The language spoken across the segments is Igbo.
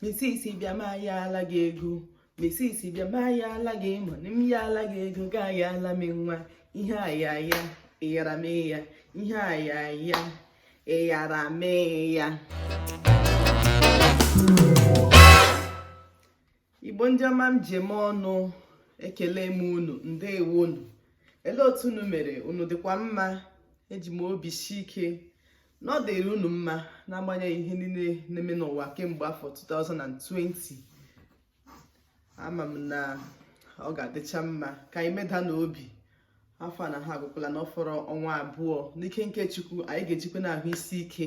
misisi bịa ma ya ala gị ego misisi bịa ma ya ala gị ma m ya ala gị ego ga ya ala m nwa ihe a ya ya ịyara m ya ihe a ya ya ịyara m ya igbo ndị ọma m ji eme ọnụ ekele m unu ndewo nụ ele otu unu mere unu dịkwa mma eji m obi si ike na ọ dịrị unu mma n'agbanyeghị ihe niile na-eme n'ụwa kemgbe afọ 2020 ama m na ọ ga-adịcha mma ka anyị meda n'obi afọ a na ha agwụkwala na ọ fọrọ ọnwa abụọ n'ike nke chukwu anyị ga-ejikwanụ ahụ isi ike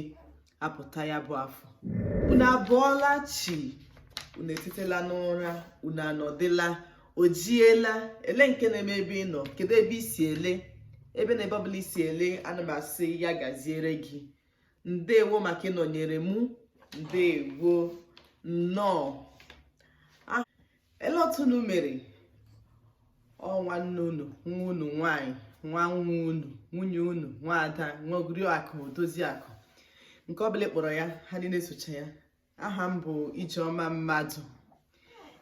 apụta ya bụ afọ unu abọọla chi unu etetela n'ụra unu anọdịla o jiela ele nke na-eme ebe ị nọ kedu ebe i si ele ebe na ebe ọbụla i si ele ana m asị ya gaziere gị ndewo maka ịnọnyere mụ ndewo nnọọ ah, ele otu unu mere ọ nwanne unu nwa unu nwanyị nwa nwa unu nwunye unu nwa ada nwa oriakụ odoziakụ nke ọbụla ị kpọrọ ya ha niile socha ya aha m bụ Ijeọma Mmadụ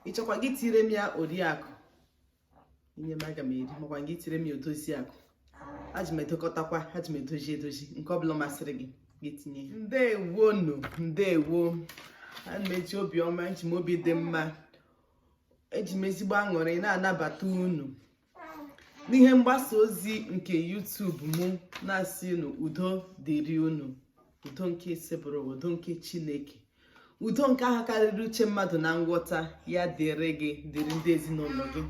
ị chọkwa gị tire m ya Oriakụ i nye m aga m eri makwa gị tire m ya Odoziakụ aji m edokọtakwa aji m edozi edozi nke ọbụla masịrị gị gị tinye ya ndewo nụ ndewo ana m eji obi ọma eji m obi dị mma eji m ezigbo aṅụrị na-anabata unu n'ihe mgbasa ozi nke YouTube mụ na-asị unu udo dịrị unu udo nke Osebụrụwa udo nke Chineke udo nke ahụ karịrị uche mmadụ na nghọta ya dịrị gị dịrị ndị ezinụlọ gị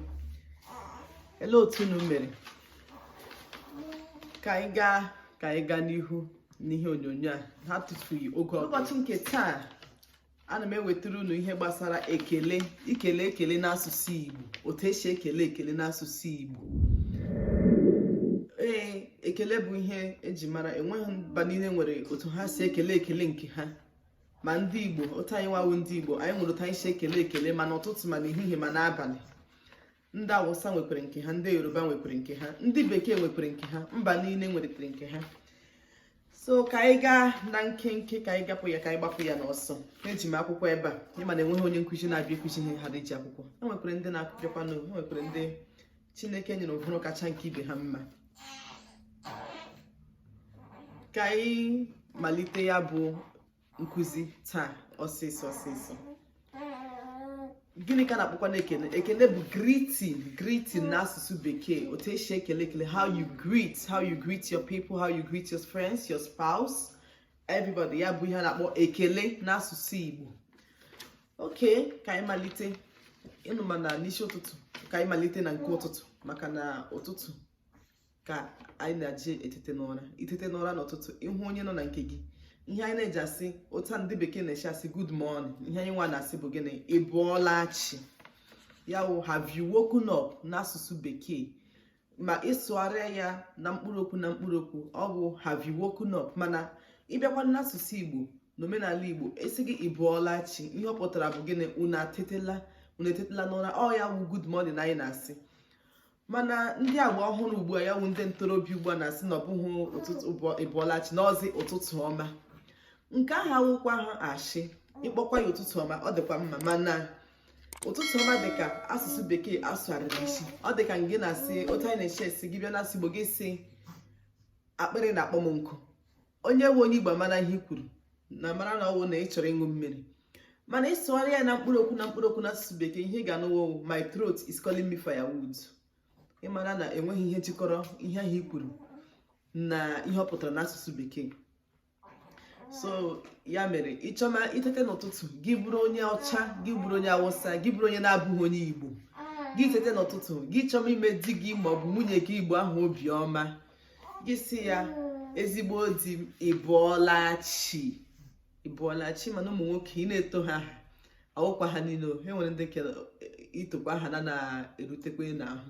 ele otu unu mere ka anyị gaa ka anyị gaa n'ihu n'ihe onyonyo a na-atụfughị oge ụbọchị nke taa ana m ewetara unu ihe gbasara ekele ikele ekele n'asụsụ Igbo otu e si ekele ekele n'asụsụ Igbo ee ekele bụ ihe e ji mara enweghị mba niile nwere otu ha si ekele ekele nke ha ma ndị Igbo otu anyị nwa wụ ndị Igbo anyị nwere otu anyị si ekele ekele ma n'ụtụtụ ma n'ehihie ma n'abalị ndị awụsa nwekwere nke ha ndị yoruba nwekwere nke ha ndị bekee nwekwere nke ha mba niile nwechere nke ha so ka anyị gaa na nkenke ka anyị gapụ ya ka anyị gbapụ ya n'ọsọ eji m akwụkwọ ebe a ị ma na enweghị onye nkụzi na-abịa ịkụzi ihe ha dị ji akwụkwọ e nwekwere ndị na-akụpịakwa n'o e nwekwere ndị chineke nyere ụbụrụ kacha nke ibe ha mma ka anyị malite ya bụ nkụzi taa ọsịsọ ọsịsọ gịnị ka a na-akpọkwanụ ekele ekele bụ greeting greeting na asụsụ bekee otu e si ekele ekele how you greet how you greet your people how you greet your friends your spouse everybody ya bụ ihe a na-akpọ ekele na asụsụ igbo okay ka anyị malite unu ma na n'isi ụtụtụ ka anyị malite na nke ụtụtụ maka na ụtụtụ ka anyị na-eji etete n'ụra i tete n'ụra n'ụtụtụ ị hụ onye nọ na nke gị ihe anyị na-eji asị otu ndị bekee na-eshi asị good morning ihe anyị nwa na-asị bụ gịnị ị bụọla chi ya wụ have you woken up n'asụsụ bekee ma ị sụgharịa ya na mkpụrụ okwu na mkpụrụ okwu ọ bụ have you woken up mana ị bịakwa n'asụsụ igbo n'omenala igbo a sị gị ị bụọla chi ihe ọ pụtara bụ gịnị unu atetela unu etetela n'ụra ọ ya wụ good morning anyị na-asị mana ndị agba ọhụrụ ugbu a ya wụ ndị ntorobịa ugbu a na-asị na ọ bụghị ụtụtụ ụbọ- ị bọla chi na ọ wụzi ụtụtụ ọma nke ahụ awụkwahụ ashị ị kpọkwa ya ụtụtụ ọma ọ dịkwa mma mana ụtụtụ ọma dịka asụsụ bekee a sụgharịrị isi ọ dịka gị na-asị otu anyị na-eshi asị gị bịa n'asụsụ igbo gị sị akpịrị na-akpọ m nkụ onye wụ onye igbo amara ihe i kwuru na mara na ọ wụ na ị chọrọ ịṅụ mmiri mana ị sụgharịa ya na mkpụrụ okwu na mkpụrụ okwu n'asụsụ bekee ihe ị ga-anụ wụ my throat is calling me firewood ị mara na enweghị ihe jikọrọ ihe ahụ i kwuru na ihe ọ pụtara n'asụsụ bekee so ya mere ị chọma i tete n'ụtụtụ gị bụrụ onye ọcha gị bụrụ onye awụsa gị bụrụ onye na-abụghị onye igbo gị tete n'ụtụtụ gị chọma ime di gị maọbụ nwunye gị igbo ahụ obiọma gị sị ya ezigbo di m ị bụọla chi ị bụọla chi ị ma na ụmụ nwoke i na-etu ha aha awụkwa ha niile e nwere ndị nke i tukwa aha na na-erutekwa n'ahụ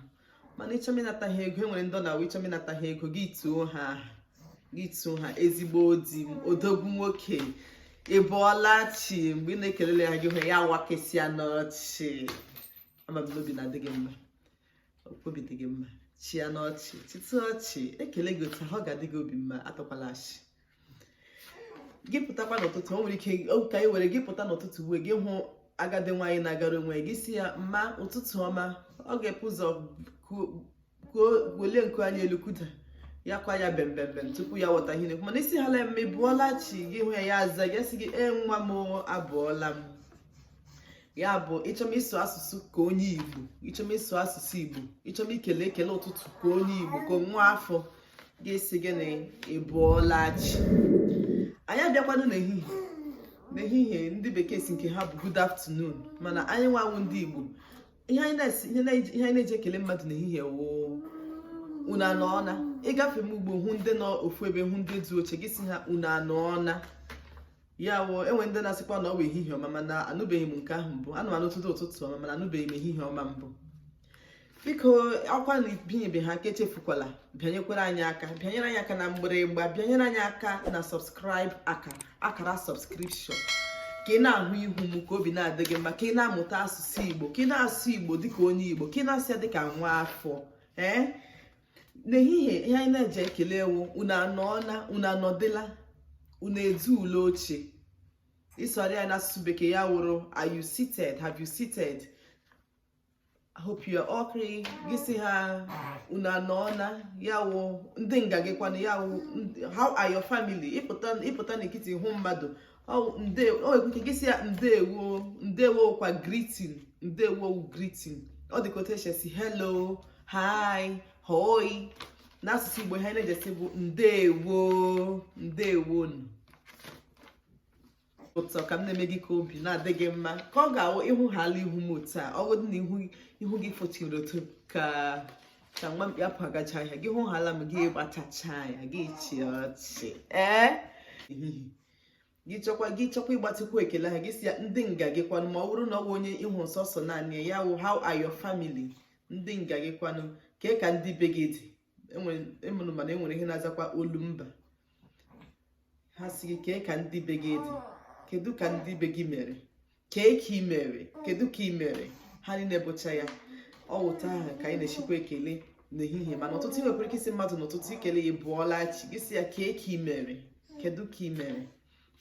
mana ị chọma ịnata ha ego e nwere ndị ọ na-awụ ị chọma ịnata ha ego gị tuo ha aha gị tuo ha ezigbo di m odogwu nwoke ị bụọla chi mgbe ị na-ekele ha gị hụ ya wakasịa ọnụ ọchị ama m na obi na-adị gị mma obi dị gị mma chịanụ ọchị chịtụ ọchị e kele gị otu ahụ ọ ga-adị gị obi mma atọkwala ọchị gị pụtakwa n'ụtụtụ o nwere ike ka anyị were gị pụta n'ụtụtụ uwe gị hụ agadi nwaanyị na-agara onwe gị sị ya mma ụtụtụ ọma ọ ga-ebu ụzọ welie nku anya elu kuda ya kwa ya bembembem tupu ya ghọta ihe ị na-ekwu mana ị sị ya nne m ị bụọla chi gị hụ ya ya aza gị sị gị ee nwa m abụọla m ya bụ ị chọma ịsụ asụsụ ka onye igbo ị chọma ịsụ asụsụ igbo ị chọma ikele ekele ụtụtụ ka onye igbo ka nwa afọ ị ga-asị gịnị ị bụọla chi anyị abịakwanụ n'ehihie n'ehihie ndị bekee sị nke ha bụ good afternoon mana anyị nwa wụ ndị igbo ihe anyị na-eji ekele mmadụ n'ehihie wụ unu anọọna ị gafema ugbo hụ ndị nọ ofu ebe hụ ndị dị oche gị sị ha unu anọọna ya wụ enwere ndị na-asịkwa na ọ bụ ehihie ọma mana anụbeghị m nke ahụ mbụ ana m anụ ụtụtụ ụtụtụ ọma mana anụbeghị m ehihie ọma mbụ biko akwa na ibinyebeghị aka echefukwala bịanyekwara anyị aka bịanyere anyị aka na mgbịrịgba bịanyere anyị aka na subscribe akara akara subscription ka ị na-ahụ ihu m ka obi na-adị gị mma ka ị na-amụta asụsụ igbo ka ị na-asụ igbo dịka onye igbo ka ị na-asụ ya dịka nwa afọ ee eh? n'ehihie ihe anyị na-eji ekele wụ unu anọọla unu anọdịla unu ezuule oche ị sụrụ ya n'asụsụ bekee ya wụrụ are you seated have you seated I hope you are okay gị si ha unu anọọla ya wụ ndị nga gị kwanụ ya wụ how are your family ịpụta na nkịtị hụ mmadụ nwekwa ike gị si ya ndewo ndewo kwa greeting ndewo greeting ọ dịka otu esi esi hello hi hoi n'asụsụ igbo ihe na-eji esi bụ ndewo ndewo ụtọ ka m na-eme gị ka obi na-adị gị mma ka ọ ga-awụ ị hụhaala ihu m otu a ọ bụrụ na ihu gị fọchiri otu ka ka nwa mkpi akpụ agacha ahịa gị hụhaala m gị gbatịcha ya gị chịa ọchị ee gị chọkwa gị chọkwa ịgbatịkwu ekele ha gị si ya ndị nga gị kwanụ ma ọ wụrụ na ọ wụ onye ị hụ sọsọ naanị ya wụ how are your family ndị nga gị kwanụ kee ka ndị be gị dị enwere mana enwere ihe na-azakwa olu mba ha si gị kee ka ndị be gị dị kedu ka ndị be gị mere kee ka ị mere kedu ka ị mere ha niile bụcha ya ọ wụ otu ahụ ka anyị na-esikwa ekele n'ehihie mana ụtụtụ ị nwekwara ike isi mmadụ n'ụtụtụ ikele ya bụọla chi gị si ya kee ka ị mere kedu ka ị mere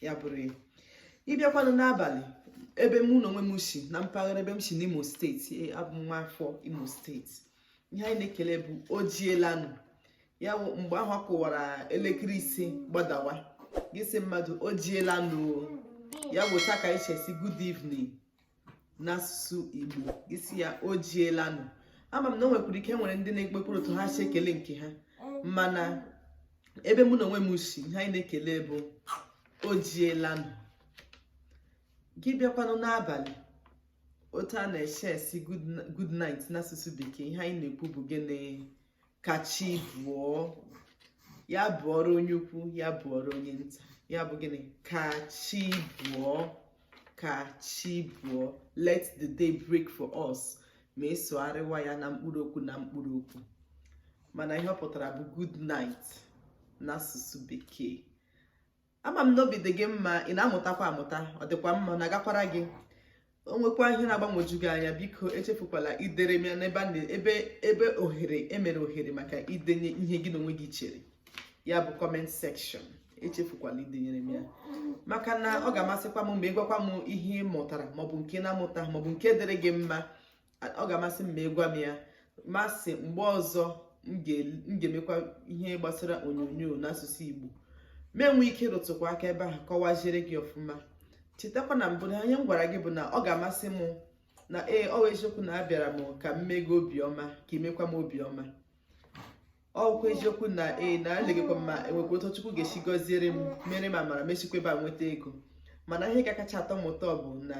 ya bụrụ ya ịbịakwanụ n'abalị ebe mụ na onwe m si na mpaghara ebe m si n'imo steeti abụ m nwa afọ imo steeti ihe anyị na-ekele bụ o jiela nụ ya bụ mgbe ọ kụwara elekere isii gbadawa gị si mmadụ o jiela nụ ya bụ otu a ka anyị si esi good evening n'asụsụ igbo gị si ya o jiela nụ ama m na o nwekwara ike nwere ndị nwekwere otu ha si ekele nke ha mana ebe mụ na onwe m si ihe anyị na-ekele bụ o jiela nụ gị bịakwanụ n'abalị otu a na-esi esi good night n'asụsụ bekee ihe anyị na-ekwu bụ gịnị ka chi bụọ ya bụọrọ onye ukwu ya bụọrọ onye nta ya bụ gịnị ka chi bụọ ka chi bụọ let the day break for us ma ịsụgharịwa ya na mkpụrụ okwu na mkpụrụ okwu mana ihe ọ pụtara bụ good night n'asụsụ bekee ama m na obi dị gị mma ị na-amụtakwa amụta ọ dịkwa mma ọ na-agakwara gị o nwekwa ihe na-agbagwoju gị anya biko echefukwala idere m ya n'ebe a na- ebe ebe ohere emere ohere maka idenye ihe gị na onwe gị chere ya bụ comment section echefukwala idenyere m ya maka na ọ ga-amasịkwa m ma ị gwakwa m ihe ị mụtara maọbụ nke na-amụta maọbụ nke dịrị gị mma ọ ga-amasị m ma ị gwa m ya masị mgbe ọzọ m ga-emekwa ihe gbasara onyonyo n'asụsụ Igbo m enwee ike ịrụtụkwa aka ebe ahụ kọwaziere gị ọfụma chetakwa na mbụ na ihe m gwara gị bụ na ọ ga-amasị m na ee ọ eziokwu na abịara m ka m mee gị obiọma ka i mekwa m obiọma ọ wụkwa eziokwu na ee na elegekwa ma enwekwa otu Chukwu ga-esi gọziere m mere m amara m esikwa ebe a nweta ego mana ihe ga-akacha atọ m ụtọ bụ na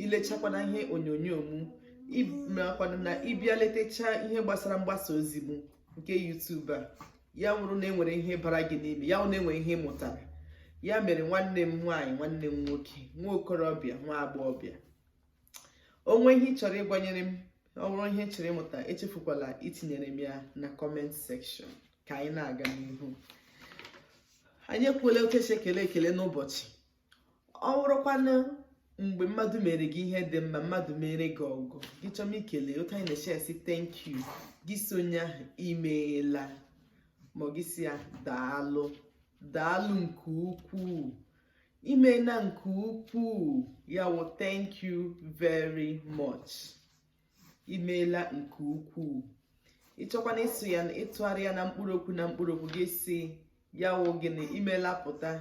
ilechakwana ihe onyonyo m makwana na ịbịa letechaa ihe gbasara mgbasa ozi m nke YouTube a ya wụrụ na enwere ihe bara gị n'ime ya wụrụ na enwere ihe ị mụtara ya mere nwanne m nwaanyị nwanne m nwoke nwa okorobịa nwa agbọghọbịa o nwee ihe ị chọrọ ịgwanyere m ọ bụrụ ihe ị chọrọ ịmụta echefukwala itinyere m ya na comment section ka anyị na-aga n'ihu anyị ekwuola otu esi ekele ekele n'ụbọchị ọ bụrụkwana mgbe mmadụ mere gị ihe dị mma mmadụ mere gị ọgọ gị chọma ikele otu anyị na-esi asị thank you gị sị onye ahụ imeela ma gị sị ya daalụ daalụ nke ukwuu imena nke ukwuu ya wụ thank you very much imeela nke ukwuu ịchọkwana ịsụ ya ịtụgharị ya na mkpụrụ okwu na mkpụrụ okwu gị sị ya wụ gịnị imeela pụta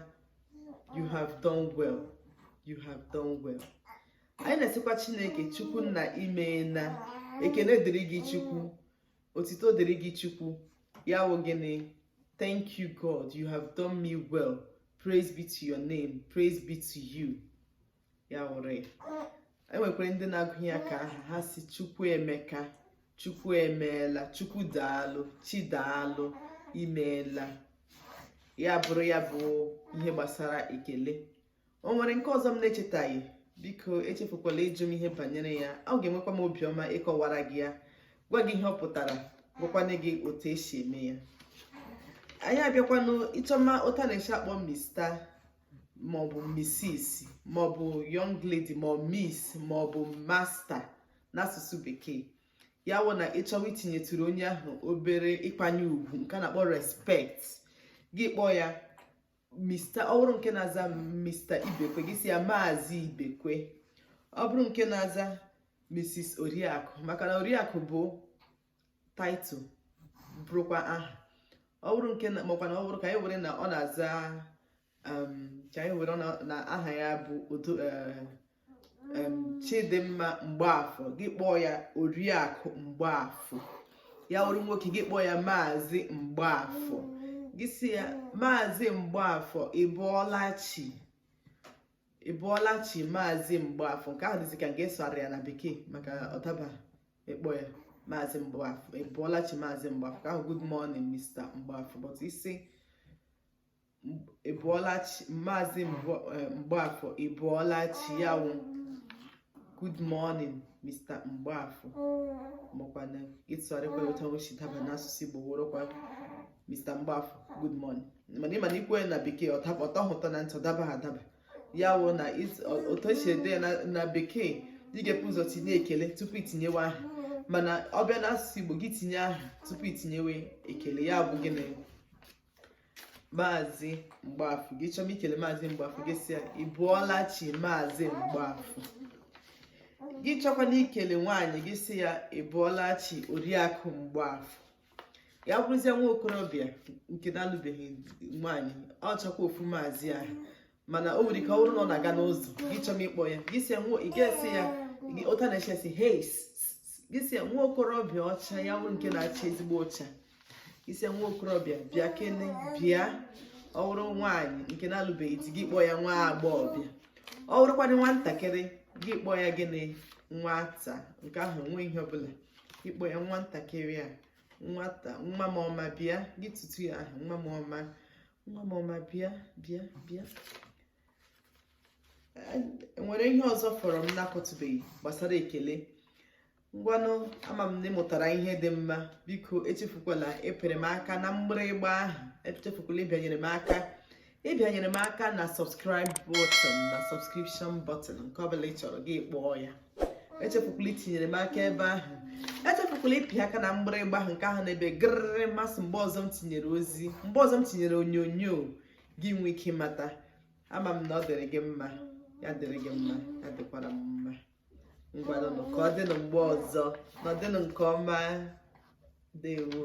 you have done well you have done well anyị na-asịkwa chineke chukwu nna imeela ekene dịrị gị chukwu otito dịrị gị chukwu ya wụ gịnị thank you god you have done me well praise be to your name praise be to you ya wụrụ enwekwara ndị na-agụnye ya ka aha ha sị chukwu emeka chukwu emeela chukwu daalụ chi daalụ imeela ya bụrụ ya bụ ihe gbasara ekele o nwere nke ọzọ m na-echetaghị biko echefukwala ịjụ m ihe banyere ya m ga-enwekwa m obiọma ịkọwara gị ya gwa gị ihe ọ pụtara gwakwana gị otu esi eme ya anyị abịakwanụ ịchọma otu a na-esi akpọ Mr maọbụ Mrs maọbụ young lady ma Miss maọbụ Master n'asụsụ bekee ya wụ na ịchọwa itinyetụrụ onye ahụ obere ịkwanye ugwu nke a na-akpọ respect gị kpọọ ya Mr. ọ bụrụ nke na-aza Mr. Ibekwe gị sị ya Maazị Ibekwe ọ bụrụ nke na-aza Mrs. Oriakụ maka na Oriakụ bụ title bụrụkwa aha ọ bụrụ nke makwa na ọ bụrụ ka anyị were na ọ na-aza um, ka anyị were na aha ya bụ odo eh, chidimma mgbaafọ gị kpọọ ya oriakụ mgbaafọ ya wụrụ nwoke gị kpọọ ya maazị mgbaafọ gị sị ya maazị mgbaafọ ị bụọla chi ị bụọla chi maazị mgbaafọ nke ahụ dịzi ka ị na-asụgharị ya na bekee maka ọ daba ịkpọ ya maazị mgbaafọ ị bụọla chi maazị mgbaafọ nke ahụ good morning mr mgbaafọ but ị sị ị bụọla chi maazị eh, mgbaafọ ị bụọla chi ya wụ good morning mr mgbaafọ makwa na ị tụgharịkwa ụta nwechi daba n'asụsụ igbo wụrụkwa mr mgbaafọ good morning mana ị ma na ikwu ya na bekee ọ tọghị ụtọ na ntị ọ dabaghị adaba ya wụ na otu esi ede ya na bekee ị ga-ebu ụzọ tinye ekele tupu itinyewe aha mana ọ bịa n'asụsụ igbo gị tinye aha tupu itinyewe ekele ya bụ gịnị maazị mgbaafọ gị chọọ ikele maazị mgbaafọ gị sị ya ị bụọla chi maazị mgbaafọ gị chọkwanụ ikele nwaanyị gị sị ya ị bụọla chi oriakụ mgbaafọ ya bụrụzie nwa okorobịa nke na-alụbeghị nwaanyị ọ chọkwa ofu maazị ahụ mana o nwere ike ọ bụrụ na ọ na-aga n'ụzọ gị chọọ ịkpọ ya gị sị ya ị ga-asị ya ụta na-eche sị heis gị sị ya nwa okorobịa ọcha ya bụ nke na-acha ezigbo ọcha gị sị ya nwa okorobịa bịa kene bịa ọ bụrụ nwaanyị nke na-alụbeghị di gị kpọọ ya nwa agbọghọbịa ọ bụrụkwanị nwatakịrị gị kpọọ ya gịnị nwata nke ahụ nwe ihe ọbụla ị kpọọ ya nwatakịrị a nwata nwa m ọma bịa gị tutuo ya aha nwa m ọma nwa m ọma bịa bịa bịa nwere ihe ọzọ fọrọ m na-akọtụbeghị gbasara ekele ngwanụ ama m na ị mụtara ihe dị mma biko echefukwala ịpịrị m aka na mgbịrịgba ahụ echefukwala ịbịanyere m aka ịbịanyere m aka na subscribe button na subscription button nke ọbụla ị chọrọ gị kpọọ ya echefukwala itinyere m aka ebe ahụ echefukwala ịpị aka na mgbịrịgba ahụ nke ahụ na-ebe gịrịrị ma sị mgbe ọzọ m tinyere ozi mgbe ọzọ m tinyere onyonyo gị nwee ike ịmata ama m na ọ dịrị gị mma ya dịrị gị mma ya dịkwara m mma ngwanụnụ ka ọ dịnụ mgbe ọzọ nọdụnụ nke ọma dewo